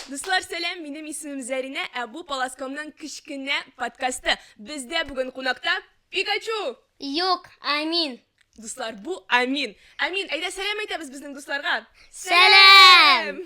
Дуслар, сәлам, минем исемем Зәринә, ә бу Паласкомның кечкенә подкасты. Бездә бүген кунакта Пикачу! Юк, Амин. Дуслар, бу Амин. Амин, әйдә сәлам әйтәбез безнең дусларга. Сәлам!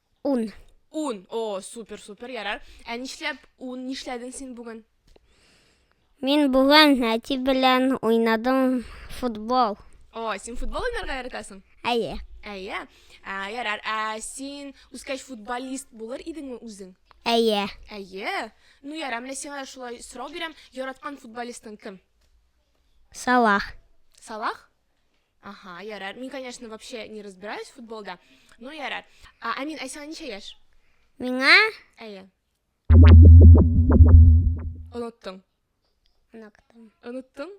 Ун. Ун. О, супер, супер, ярар. Ә нишләп ун нишләдең син бүген? Мин бүген әти белән уйнадым футбол. О, син футбол уйнарга яратасың? Әйе. Әйе. Ә, ярар. Ә син үскәч футболист булыр идеңме үзең? Әйе. Әйе. Ну, ярар, менә сиңа шулай сорау бирәм. Яраткан футболистың кем? Салах. Салах? Ага, ярар. Мин, конечно, вообще не разбираюсь в футболда. Ну, ярар. А, Амин, а сиңа ничә яшь? Миңа? Әйе. Оныттың. Оныттың. Оныттың?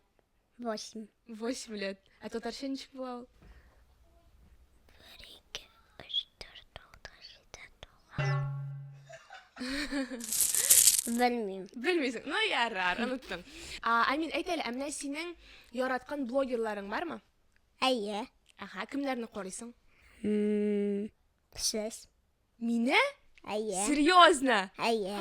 Восемь. Восемь лет. А татарча ничек була ул? Белмим. Белмисең. Ну ярар, оныттым. А, Амин, әйт әле, ә менә синең яраткан блогерларың бармы? Әйе. Ага, кемнәрне карыйсың? Мм, сез. Мине? Әйе. Серьезно? Әйе.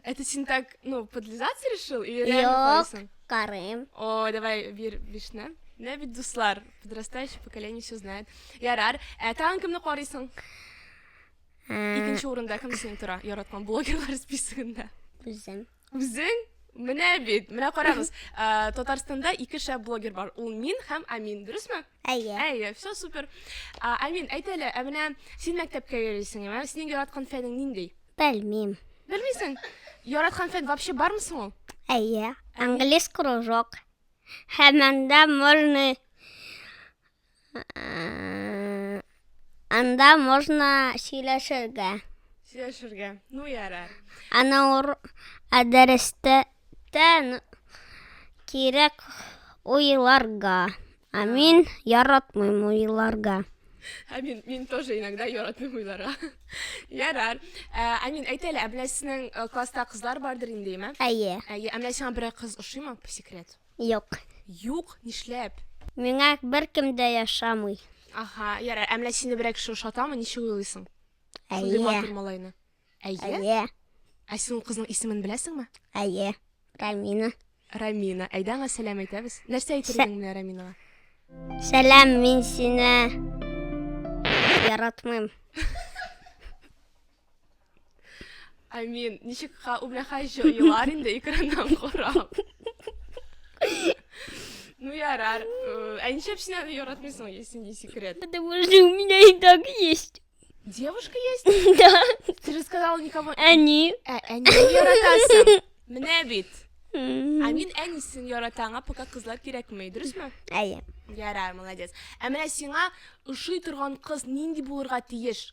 Это син так, ну, подлизаться решил или реально Юк, карыйсың? карыйм. О, давай бир бишне. Менә бит дуслар, подрастающее поколение все знает. Ярар, ә тагын кемне карыйсың? Икенче урында кем синең тора яраткан блогерлар списогында? Үзем. Үзең? Менә бит, менә карагыз. Ә, Татарстанда ике шәп блогер бар. Ул мин һәм Амин, дөресме? Әйе. Әйе, все супер. Ә, Амин, әйт әле, ә менә син мәктәпкә йөрисең, ә синең яраткан фәнең нинди? Белмим. Белмисең? Яраткан фән вообще бармы соң ул? Әйе. Английский кружок. Һәм анда можно Э, Анда можно сөйләшергә. Сөйләшергә. Ну яра. Ана ур ә дәрестә тән кирәк уйларга. Ә мин яратмыйм уйларга. Ә мин, мин тоже иногда яратмыйм уйларга. Ярар. Ә, ә мин әйт әле, ә менә сезнең э, класста кызлар бардыр инде, име? Әйе. Әйе, ә менә сиңа берәр кыз ошыймы, по секрет? Юк. Юк, нишләп? Миңа беркем дә яшамый. Аһа, ярар, ә менә сине берәр кеше ошатамы, ничек уйлыйсың? Шундый Әйе. матур малайны. Әйе? Әйе. Ә син ул кызның исемен беләсеңме? Әйе. Рәмина. Рәмина. Әйдә аңа сәлам әйтәбез. Нәрсә әйтер идең менә Рәминага? Сәлам, мин сине яратмыйм. I mean, ничек ха үмләхай җыйлар инде экраннан карап. Ну ярар. Ә ничек син аны яратмыйсың, если не секрет? Потому что у меня и так есть. Девушка есть? Да. Ты же сказала никому. Они. Э, они яратасың. Менә бит. Ә мин әнисен яратам, пока кызлар кирәкми, дөресме? Әйе. Ярар, молодец. Ә менә сиңа ошый торган кыз нинди булырга тиеш?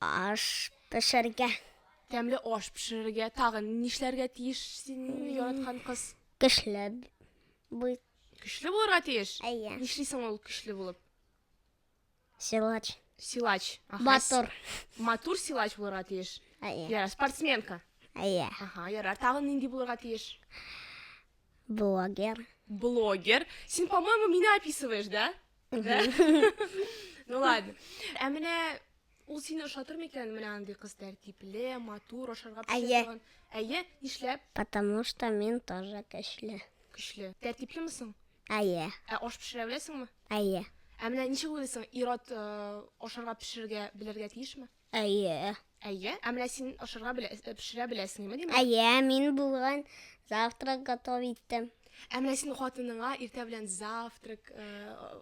Аш пешерергә. Тәмле аш пешерергә. Тагын нишләргә тиеш син, яраткан кыз? Көчле бу. Көчле булырга тиеш? Әйе. Нишлисең ул көчле булып? Силач. Силач. Аха, Матур. с- Матур силач булырга тиеш. Әйе. Ярар, спортсменка. Әйе. Аха, ярар. Тагын нинди булырга тиеш? Блогер. Блогер. Син, по-моему, мине описываешь, да? Да? Ну ладно. Ә менә ул сине ошатыр микән? Менә андый кыз тәртипле, матур, ашарга пешә Әйе. торган. Әйе, нишләп? Потому что мин тоже көчле. Көчле. Тәртиплеме соң? Әйе. Ә аш пешерә беләсеңме? Әйе. Ә менә ничек уйлыйсың, ир-ат э, ашарга пешерергә белергә тиешме? Әйе. Әйе. Ә менә син ашарга белә, э, пешерә беләсеңме, димәк? Әйе, мин бүген завтрак готов иттем. Ә менә син хатыныңа иртә белән завтрак э,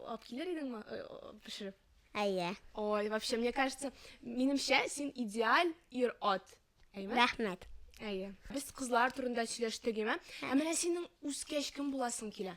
алып килер идеңме э, э, пешереп? Әйе. Ой, вообще, мне кажется, минемчә син идеаль ир ат. Әйме? Рәхмәт. Әйе. Без кызлар турында сөйләштек, әйме? Ә менә синең үскәч кем буласың килә?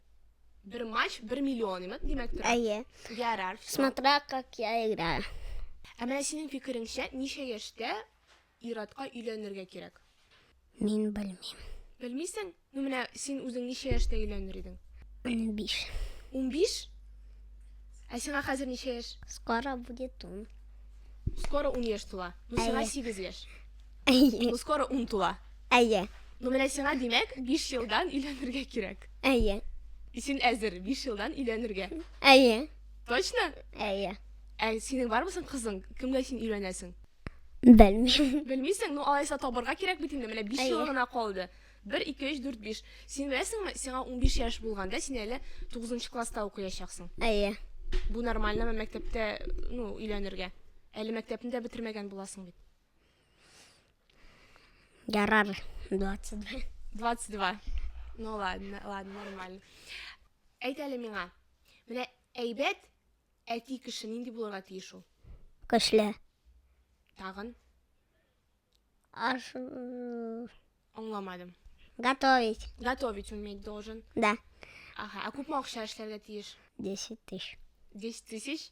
Бер матч бер миллион имет димәк тора. Әйе. Ярар, все. Смотря как я играю. Ә менә синең фикереңчә, ничә яшьтә ир-атка өйләнергә кирәк? Мин белмим. Белмисең? Ну менә син үзең ничә яшьтә өйләнер идең? Унбиш. Унбиш? Ә сиңа хәзер ничә яшь? Скоро будет ун. Скоро ун яшь тула. Ну сиңа сигез яшь. Әйе. Ну, скоро ун тула. Әйе. Ну, менә сиңа, димәк, биш елдан өйләнергә кирәк. Әйе. Син әзер биш елдан өйләнергә. Әйе. Точно? Әйе. Ә синең бармы соң кызың? Кемгә син өйләнәсең? Белмим. Белмисең, ну алайса табырга кирәк бит инде, менә 5 Әйе. ел гына калды. 1 2 3 4 5. Син беләсеңме, сиңа 15 яшь булганда син әле 9 класста укыячаксың. Әйе. Бу нормальнымы мәктәптә, ну, өйләнергә? Әле мәктәпне дә бетермәгән буласың бит. Ярар, 22. 22. Ну ладно, ладно, нормально. Әйт әле миңа. Менә әйбәт әти кеше нинди булырга тиеш ул? Көчле. Тагын? Аш... Аңламадым. Готовить. Готовить уметь должен. Да. Ага, а күпме акча эшләргә тиеш? 10 тысяч. 10 тысяч?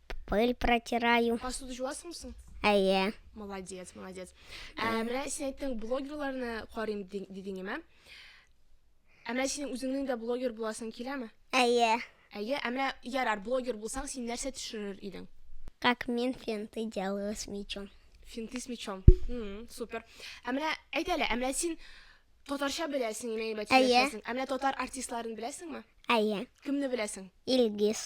Пыль протираю. Посуда җуасың соң? Әйе. Молодец, молодец. Ә менә син әйттең, блогерларны карыйм дидеңме? Ә менә синең үзеңнең дә блогер буласың киләме? Әйе. Әйе, ә менә ярар, блогер булсаң, син нәрсә төшерер идең? Как мин финты делаю с мечом. Финты с мечом. Супер. Ә менә әйт әле, ә менә син Татарча беләсең, имею бәтчә беләсең. Ә менә татар артистларын беләсеңме? Әйе. Кемне беләсең? Илгиз.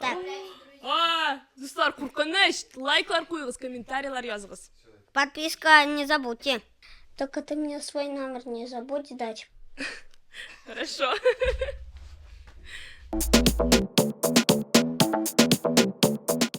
Так. А, дуслар, куркыныч! Лайклар куегыз, комментарийлар языгыз. Подписка не забудьте. Только ты мне свой номер не забудь дать. Хорошо.